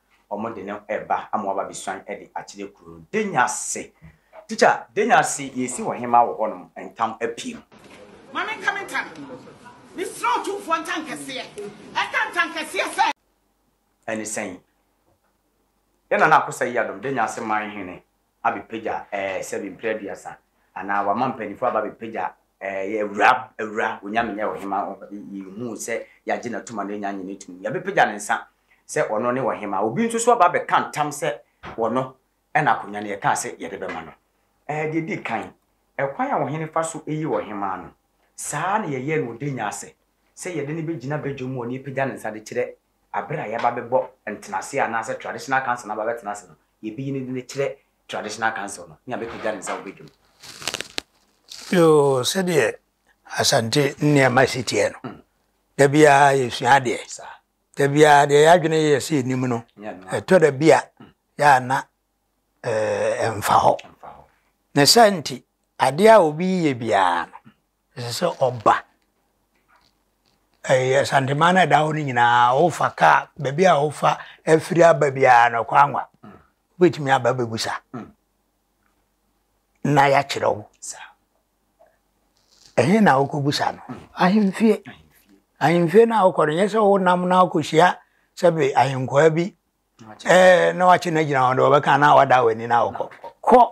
wɔde no reba ama wɔaba abɛsuan de akyerɛ kuro no. Denyase, Tikya, Denyase, yɛresi ɔhema wɔ hɔnom ntam apim. Ma menka me ntam. Mesrɛ Otumfoɔ ntankɛseɛ, ɛka ntankɛseɛ sɛ. Ɛne sɛn? Yɛn Nana Akosua Yiadom, Denyase man hene, abɛpagya ɛɛ sɛbi mprɛ aduasa anaa wama mpaninfoɔ aba abɛpagya ɛɛ yɛ awura awura onyame nyɛ ɔhema yɛhuu sɛ yɛagye n'atum a n'anya nyina atum yɛbɛpagya ne nsa sɛ ɔno ne ɔhema obi nso so aba abɛka ntam sɛ ɔno ɛna akonwa no yɛkaa sɛ yɛde bɛma no ɛɛ deɛ di kan ɛkwan a ɔhene fa so ɛyi ɔhema no saa na yɛyɛ no ɔde nya asɛ sɛ yɛde no bɛgyina badwa mu ɔne apagya ne nsa de kyerɛ aber a yɛba bɛbɔ ntsenaase anaasɛ traditional council no aba bɛtsena ase no, yebeyi ne dzin kyerɛ traditional council no, nyia bepegya ne nsa wɔ badwam. Yoo, sɛdeɛ Asante nneɛma si teɛ no, mm. da biara yɛsua adeɛ. Da biara deɛ yɛadwene yɛ sɛ yɛnim no, ɛtɔ da bi a mm. yɛ ana ɛmfa eh, hɔ. Ne saa nti, adeɛ a obi yɛ biara no, Ɛsɛ sɛ ɔba. Ɛyɛ Asanteman no a ɛda hɔ no nyinaa, wofa kaa, baabi a wofa afiri aba biara no, ɛkɔ anwa. Wobɛtumi aba abɛbisa na yɛakyerɛ wo. Ɛhe na wokɔbisa no? Ahemfie. Ahemfie no a wokɔ no, nyɛ sɛ wonam na wokɔhyia sɛbe ahenkwaa bi na wakye no agyina hɔ de wɔbɛka na wada w'ani na wokɔ. Kɔ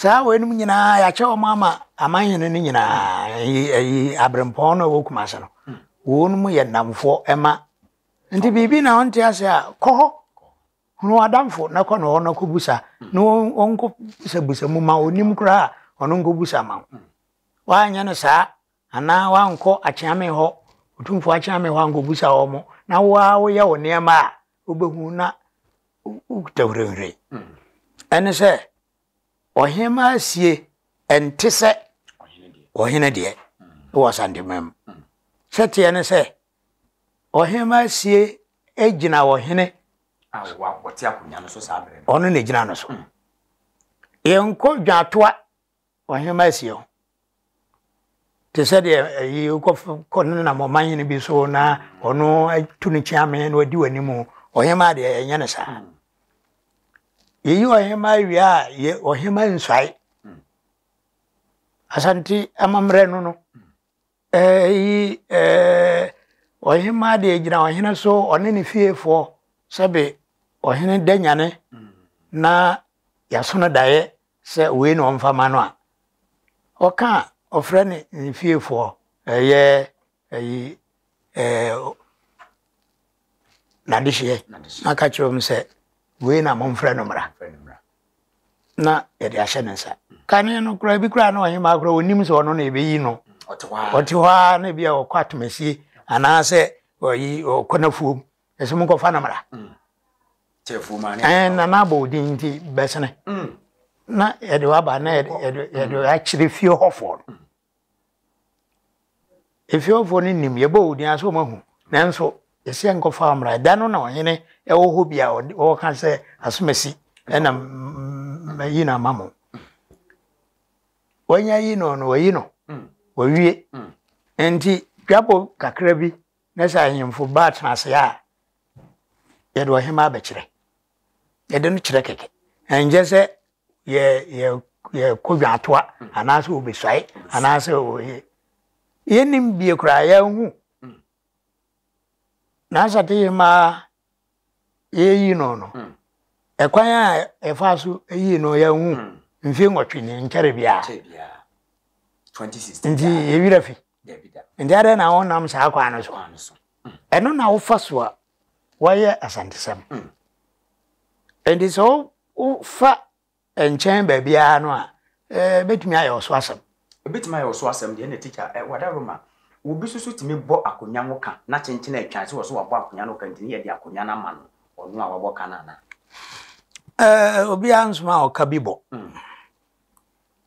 Saa wei nom nyinaa yɛakyɛ wɔn ama aman hene no nyinaa ɛyi aberempɔn no a ɛwɔ kumase no hmm. wɔn nom yɛ nnamfoɔ ɛma nti biribi na ɔnte ase a kɔ hɔ hunu adamfo na kɔ na hɔ na kɔ busa hmm. na ɔnkɔ busa busa mu ma onim koraa ɔno nkɔ busa ma hmm. wɔanyɛ no saa Anaa woankɔ akyeame hɔ, Otumfoɔ akyeame hɔ ankɔbisa wɔn, na wo ara woyɛ wo nneɛma a, wobɛhu na wokita hurehurei. Ɛne sɛ, ɔhemaa sie ɛnte sɛ ɔhene deɛ wɔ Asanteman mu. Sɛ teɛ ne sɛ, ɔhemaa sie gyina ɔhene. A ɔte akonnwa no so saa berɛ no. Ɔno na ɛgyina no so. Yɛnkɔ dwatoa Ɔhenemma asia ho. Te sɛ deɛ ayi wokɔ no nam ɔman hene bi so na ɔno atu ne kyeame na wadi w'anim ɔhenemma deɛ ɛnyɛ no saa yɛyi ɔhenemma awie a yɛ ɔhenemma nsuae asante amammerɛ no no Eyi ɔhemmaa deɛ gyina ɔhene so, ɔne ne fiefoɔ, sɛbe ɔhene da nyane na yɛaso no daeɛ sɛ wei na ɔmfa ma no a, ɔka a ɔfrɛ ne ne fiefoɔ, ɛyɛ ayi ɛɛ. n'adehyeɛ na aka akyerɛ wɔn sɛ wei na momfrɛ no mmra na yɛde ahyɛ ne nsa kane no koraa bi koraa na ɔhemaa koraa ɔnim sɛ ɔno na ɛbɛyi no ɔte hɔ a na bi a ɔkɔ atomasie anaasɛ ɔyi ɔkɔ n'afuom ɛsɛ mu nkɔfa no mmra na n'abɔ odin nti bɛsene na yɛde waba na yɛde akyerɛ fie hɔfoɔ no Efeofoɔ no nim, yɛbɔ wo din a sɛ wɔahu. Nanso, ɛsɛ nkɔfa mmara. Ɛda no na ɔhene wɔ hɔ bi a ɔka sɛ asomasi na mayi no ama mo. Wɔanya yi no no, wɔayi no, wɔwie. Nti, dwabɔ kakra bi na sɛ ahemfo ba atena ase a, yɛde ɔhema abɛkyerɛ. Yɛde no kyerɛ kɛkɛ. Ɛnkyɛ sɛ yɛ yɛ yɛkɔ dwatoa anaasɛ obesuae anaasɛ oye yɛnim bie koraa yɛnhu nansa te yɛ maa yɛyi no no hmm. ɛkwan a ɛfa so yi no yɛnhu hmm. mfe nwɔtwe ne nkyɛre biara nti yɛwerɛ fi Dabida. Nti adɛn na wonam saa kwan no so? Ɛno na wofa so a wɔyɛ asantesɛm. Mm. Nti sɛ wofa nkyɛn baabiara no a, ɛbɛtumi ayɛ ɔso asɛm. Ɛbɛtumi ayɛ ɔso asɛm deɛ na tikya wada Roma obi soso tumi bɔ akonnwa ho ka na kyenkyene atwan sɛ wɔ so wabɔ akonnwa no ka ntini yɛde akonnwa no ama no ɔno a wabɔ ka no ana obiara nsoma a ɔka bi bɔ mm.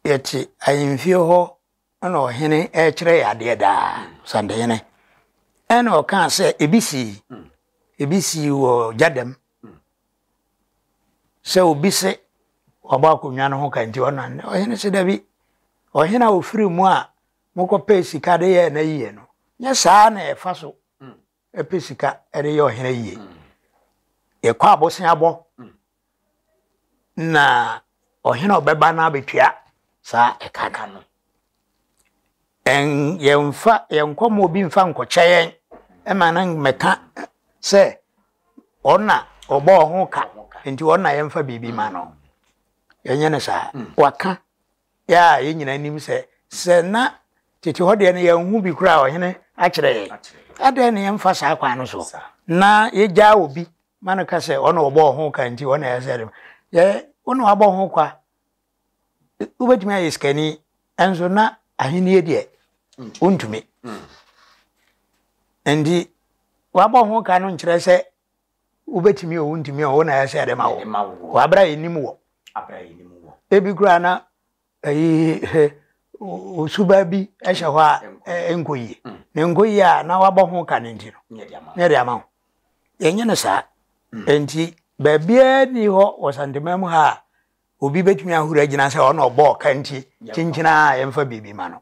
yɛte ahemfie hɔ Ɛna ɔhene rekyerɛ yɛ adeɛ daa santehene ɛna ɔkaa sɛ ebi sii ebi sii wɔ gya dɛm sɛ obi se wabɔ akonnwa no ho ka nti ɔna ɔhene se dabi ɔhene a ofiri mu a mokɔpɛ sika de yɛ na yie no nyɛ saa na ɛfa so Ɛpɛ sika de yɛ ɔhene yie. Yɛkɔ aboseabɔ na ɔhene a ɔbɛba no abɛtua saa ɛka ka no. Yɛmfa yɛnkɔ ma obi mfa nkɔkyɛ yɛn ɛma no mmɛka sɛ ɔna ɔbɔ ɔho ka nti ɔna yɛmfa biribi ma no. Yɛnyɛ no saa. Waka yɛ a yɛn nyinaa nim sɛ sɛ na tete hɔ deɛ no yɛnhu bi koraa ɔhene akyerɛ yɛn adɛn na yɛmfa saa kwan no so na yɛgyaa obi ma no ka sɛ ɔna ɔbɔɔ ho ka nti ɔna ɛyɛ sɛ yɛ wo na wabɔ ho kwa wobɛtumi ayɛ sikani ɛnso na ahennie deɛ wontumi nti wabɔ ho ka no nkyerɛ sɛ Wobɛtumi o, wontumi o, wo na ɛyɛ sɛ yɛde ma wo. Wɔ aberɛ a yɛnim wɔ. Ebi koraa na ayi he, suba bi hyɛ hɔ a ɛnkɔ yie. Mm. Na ɛnkɔ yie a na wabɔ ho ka no nti no, na yɛde ama wo. Yɛnyɛ no saa. Mm. Enti baabiara ni hɔ wɔ Santeman mu ha a obi bɛtumi ahoro agyina sɛ ɔna ɔbɔɔ ka nti kyenkyena a yɛmfa biribi ma no.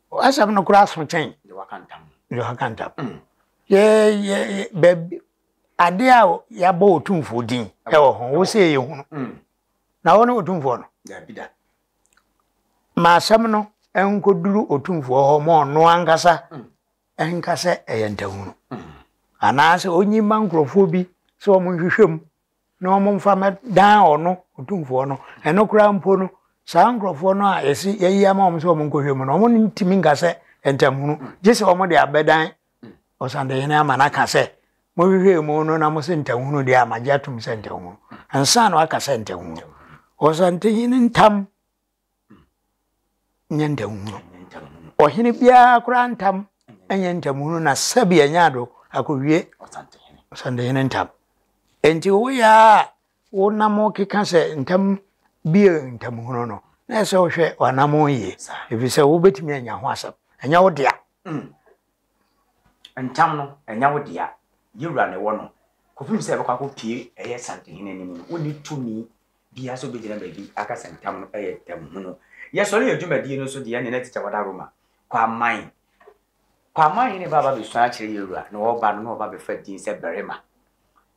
Asɛm no koraa so kyɛn. Deɛ waka ntam. Deɛ waka ntam. Mm. Yɛ yɛ baabi ade a yɛabɔ otumfoɔ din ɛwɔ ho wo sɛ yɛ hunu. Mm. Na wo ne otumfoɔ no. Dabi da. Ma asɛm no nkɔduru otumfoɔ hɔ ma ɔno ankasa mm. ɛnka sɛ ɛyɛ ntahunu. Mm. Anaasɛ ɔnyi ma nkurɔfoɔ bi sɛ wɔn nhwehwɛ mu na wɔmfa mmɛdan ɔno, Otumfoɔ no, ɛno koraa mpo no, saa nkurɔfoɔ no a yɛse yɛayi ama wɔn sɛ wɔnkɔhwɛ mu no, wɔntumi nka sɛ ntamhunu, gye sɛ wɔde abɛdan Ɔsandehene ama no aka sɛ, Mohwehwɛɛ mu no na mose ntamhunu deɛ a, magye atom sɛ ntamhunu, ansa na wɔaka sɛ ntamhunu. Ɔsantehene ntam. nyɛ ntamhunu. Ɔhene biara koraa ntam nyɛ ntamhunu na sɛbea nya do akowie Ɔsantehene ntam. Enti woyɛ a wonam keka sɛ ntam bi yɛ ntamhunu no, na ɛsɛ sɛ wohwɛ w'anammɔn yie, efisɛ wobɛtumi anya ho asɛm. Ɛnyɛ wo dea. Ntam no, ɛnyɛ wo dea. Yɛwura na ɛwɔ no. Kɔpem sɛ ɛbɛkɔ akɔpue ɛyɛ Santehene anim no, wonni tumi Bia sɛ obegyina baabi akasa ntam no yɛ ntamhunu. Yɛsɔre yɛ dwumadie no nso deɛ ne na tikya wada Roma kɔ aman kɔ aman hene ba aba bɛsua akyerɛ yɛwura na ɔba no na ɔba bɛfa din sɛ barima.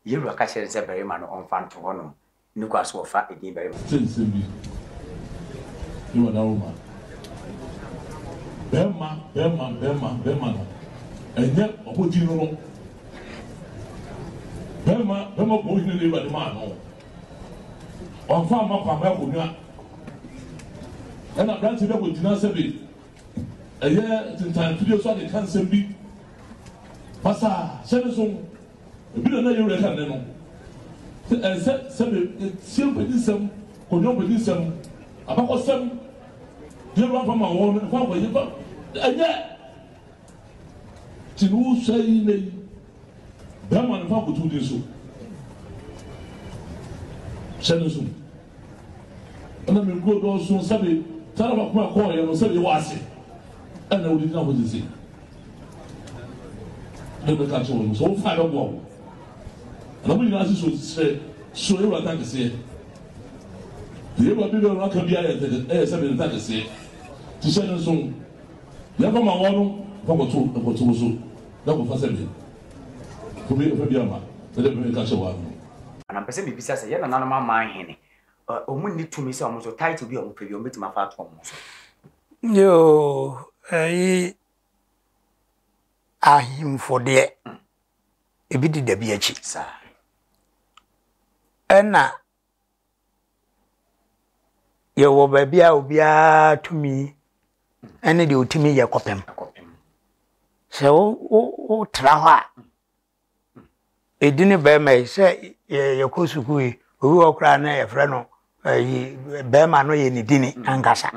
Yɛwura ka kyerɛ no sɛ barima no ɔmfa nto hɔ nom ne kwan so ɔfa edin barima. Te sɛ nsɛm bi ne wada Roma barima barima barima barima no ɛnyɛ ɔmo din no no barima barima bɔɔ hene na yɛwura de maa no. Ɔmfa mma Kwame akonnwa. Ɛna aberante bi a wɔgyina sɛbe ɛyɛ tintan fidie so ade ka nsɛm bi. Basa hyɛ ne so. Ebi na na yɛ wura ka ne no. Sɛ ɛsɛ sɛbe etie mpɛdi nsɛm, konnwa mpɛdi nsɛm, abakɔsɛm, deɛ wura fa ma wɔn no, ɛfa wɔn yɛ fa ɛnyɛ. Nti no wo sɔe yi nnɛ yi, bɛrima no fa koto wo din so. Hyɛ no nso mu. Ɛna me nkuro dɔɔso sɛbe tara baako a kɔɔyɛ no sɛbe wɔ ase ɛna wode gyina hɔ sese. Ne bɛka kyerɛ wɔn sɛ wo fa bɛboa wo. Na mo nyinaa sisi sɛ so ewura ta kɛseɛ. Deɛ ewura bi bɛwura ka bi ayɛ sɛbe ne ta kɛseɛ. Ti hyɛ no nso Yɛkɔ ma wɔn no kɔ kɔ to mpɔte wo so na kɔ fa sɛ me kɔ me fa bi ama me dɛ me ka kyerɛ wɔn no. Na mpɛ sɛ me bisa sɛ yɛn nananom aman he ne wɔn nni tumi sɛ wɔn nso title bi a wɔn pɛ bi wɔn betumi afa ato wɔn so? Yoo, eyi ahemfo deɛ ebi di dabi akyi. Saa. Ɛna Yɛwɔ baabi a obiara tumi ne deɛ ɔtumi yɛ kɔpem. Sɛ wo wo wotra hɔ a, ɛdi ne bɛrima yi sɛ yɛkɔ sukuu yi, obi wɔ koraa na yɛfrɛ no ayi bɛrima no yɛ ne dini ankasa.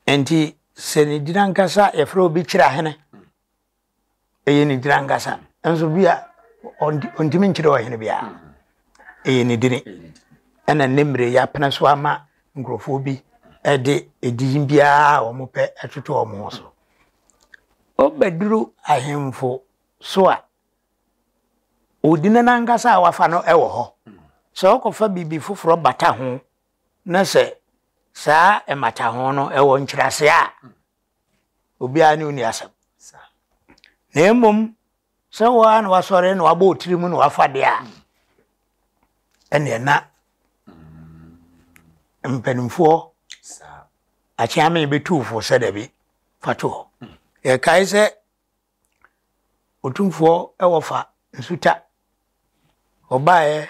Nti sɛ ne dini ankasa yɛfrɛ obi kyerɛ ahene. ɛyɛ ne dini ankasa nso bi a ɔntumi nkyerɛ ɔhene biara ɛyɛ ne dini ɛna ne mmerɛ yi apena so ama nkurɔfoɔ bi ɛde edin biara a wɔn pɛ ɛtoto wɔn ho so ɔbɛduru ahemfo so a odini no ankasa a wafa no ɛwɔ hɔ sɛ ɔkɔfa biribi foforɔ bata ho na sɛ saa ɛmata ho no ɛwɔ nkyerɛaseɛ a obiara ne wo nni asɛm. Na mmom sɛ wo ara na wasɔre na wabɔ wo tiri mu na wafa deɛ a, ɛneɛ na mpanimfoɔ akyeame bɛtu wo fo sɛ dabi fa to hɔ. Yɛkae sɛ Otumfoɔ wɔfa nsutwa ɔbaeɛ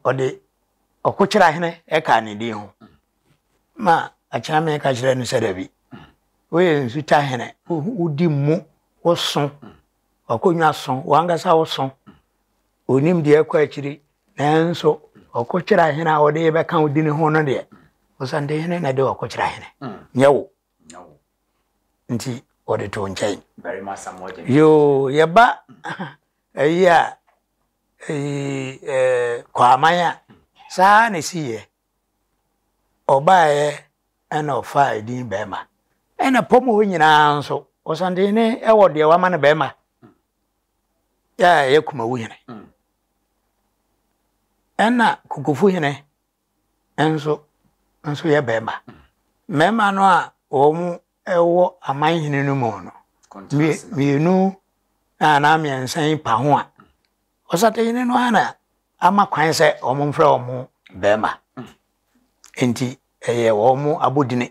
ɔde ɔkokyerɛ hene ɛkaa ne din ho ma akyeame ka kyerɛ no sɛ dabi woyɛ nsutwa hene wodi mu woso ɔkonwa so wankasa woso onim deɛ ɛkɔ akyiri nanso ɔkokyerɛ hene a ɔde bɛka wo din ho no deɛ ɔsantehene na de ɔkokyerɛ hene nyɛ wo Nti wɔde too nkyɛn. Yoo yɛba ayi a ɛyi ɛɛ Kwaaman a saa ara na ɛsiiɛ. Ɔbaeɛ ɛna ɔfaa edin bɛɛma. Ɛna pɔm hɔ nyinaa nso Ɔsantehene ɛwɔ deɛ wama no bɛɛma a ɛyɛ Kumawuhene. Ɛna Kokofuhene. nso nso yɛ barima. Mmarima no a wɔwɔ aman hene no mu no, mmienu anaa mmiɛnsa yi pa ho a, ɔsatahene no ara na ama kwan sɛ wɔmfrɛ wɔn barima. Enti ɛyɛ wɔn abodini.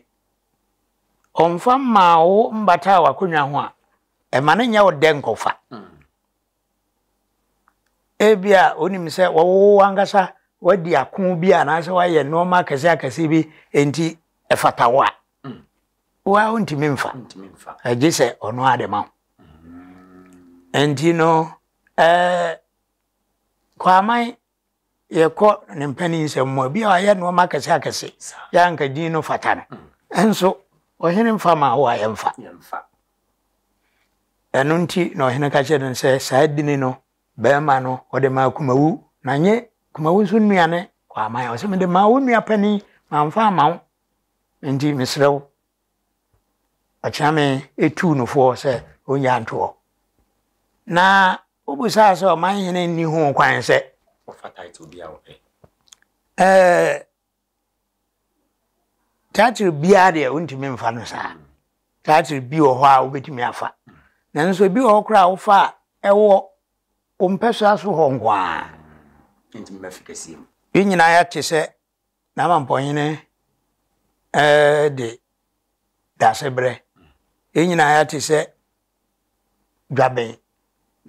Ɔmfa mmaa wo mmata w'akonnwa ho a, ɛma no nyɛ wo dɛ nkɔfa. Ebia wonim sɛ wowɔ w'ankasa woadi ako bi anaasɛ woayɛ nneɛma akɛse akɛse bi nti ɛfata wo a mm. wo a wontumi mfa gye sɛ ɔno ade ma wo mm. nti no eh, kwaman yɛkɔ ne mpanin nsɛm mu a bi a wayɛ nneɛma akɛse akɛse yɛ anka din no fata no ɛnso ɔhene mfa ma wo a yɛmfa ɛno nti na ɔhene ka kyerɛ no sɛ saa dini no bɛrima no ɔde maa kumawu na nye kumawu nso nnuane kɔ aman ɔsɛ mede maa wo nua panin mamfa ama wo nti mesrɛ wo Ɔkyeame tuu no fo sɛ onnyaa ntoɔ, na wobisaa sɛ ɔmanhene nni ho kwan sɛ ɔfa title bi a ɔpɛ. Ɛɛ title biara deɛ wontumi mfa no saa. Title bi wɔ hɔ a wobɛtumi afa. Nanso ebi wɔ hɔ koraa a wofa a ɛwɔ wo mpɛsoa so hɔ nko ara. Yɛn nyinaa yɛate sɛ N'amampɔhene de dasebrɛ. Yɛn nyinaa yɛate sɛ dwaben,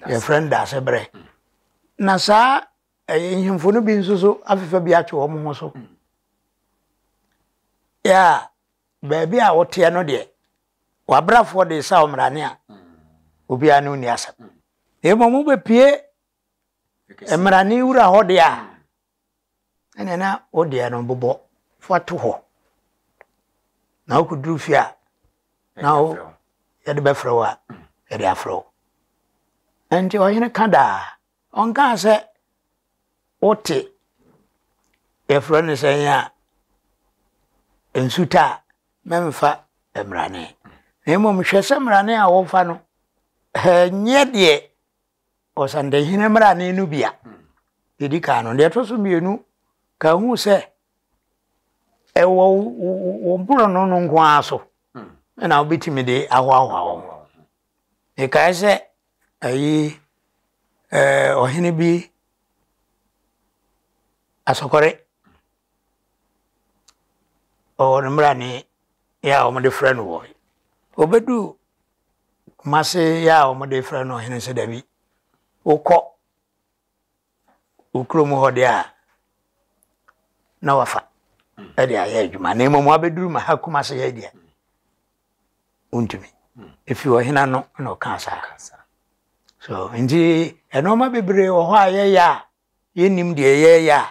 yɛfrɛ no dasebrɛ. Na saa nhemfo no bi nso so afefa bi atwe wɔn ho so. Yɛ a baabi a wɔteɛ no deɛ, wabrafoɔ de sa ɔmmerane a obiara ne onni asɛm. Na mmom wobɛpie mmerane wura hɔ deɛ a ɛne na wodeɛ no bobɔ fa to hɔ na wokɔduru fie a na wo yɛde bɛfrɛ wo a yɛde afrɛ wo ɛnti ɔhene ka daa ɔnkaa sɛ wote yɛfrɛ no sɛ yɛ a nsuta a mɛmfa mmrane na mmom hwɛ sɛ mmrane a wɔfa no ɛnyɛ deɛ Ɔsantehene mmrane no bi a ɛdi kan no, deɛ ɛtɔ so mmienu ka hu sɛ ɛwɔ wo borɔno no nko ara so hmm. na wobɛtumi de ahoahoa wɔn mekae sɛ ayi eh, ɔhene bi asɔkɔre ɔwɔ no mmara ne yɛ a wɔde frɛ no wɔ ɔbɛduu Kumase yɛ a wɔde frɛ no ɔhene nso dabi. Wokɔ wo kurom hɔ deɛ a na wafa de ayɛ adwuma na mmom wabɛduru ma ha Kumase ha deɛ wontumi. Ɛfiri ɔhene ano na ɔkaa saa. so nti ɛnoɔma bebree wɔ hɔ a yɛyɛ a yɛnnim deɛ yɛyɛ a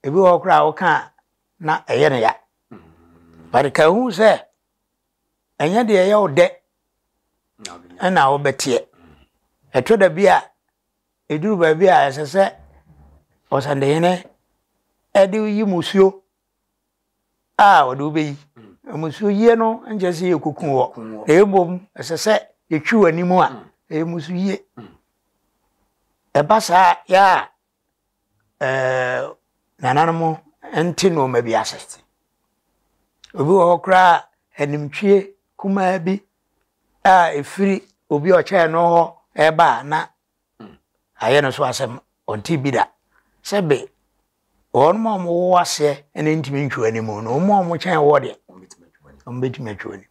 ebi wɔ hɔ koraa woka na ɛyɛ no ya mm. but ka hu sɛ ɛnyɛ deɛ ɛyɛ wo dɛ ɛna wobɛteɛ ɛtɔ da bi a ɛduru baabi a ɛsɛ sɛ ɔsɛndehene ɛde yi musuo a ɔde wobɛyi musuo yie no nkyɛ sɛ yɛ kuku wɔ ɛbom ɛsɛ sɛ yɛtwi wɔ anim a ɛyɛ musuo yie ɛba saa yɛ a ɛɛ nananom nte nneɛma bi ase. Obi wɔ hɔ koraa a animtwie kumaa bi a ɛfiri obi a ɔkyɛɛ no hɔ ɛreba a na ayɛ no so asɛm ɔnte bi da sɛ be wɔn a wɔwɔ aseɛ na ntumi ntwe anim na wɔn a wɔkyɛn wɔ deɛ wɔbɛtumi atwe anim.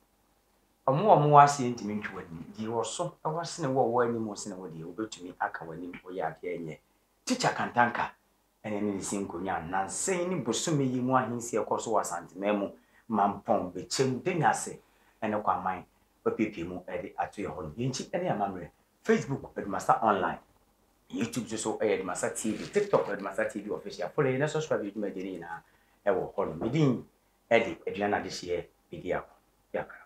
Wɔn a wɔwɔ aseɛ ntumi ntwe w'anim. Deɛ ɔwɔ so wɔ sene wo a ɔwɔ anim wɔ sene wo deɛ, ɔbɛtumi aka w'anim woyɛ adeɛ a ɛnyɛ. Tikya Kantanka ne ne nsi nkonnwa nnansa yi ne bosome yi mu ahensie a ɛkɔ so wɔ Asanteman mu ma mpɔn bɛkyɛm de Nyase ne Kwaman apiapia mu de ato yɛn hɔ no, yɛn akyi ne yɛn amammerɛ. Facebook, Adumasa Online. YouTube nso so yɛ Adumasa TV. TikTok, Adumasa TV Official. Follow yɛn na subscribe yɛn dwumadie no nyinaa wɔ hɔnom. Me din de aduan adehyeɛ bɛdi ako. Yɛakra.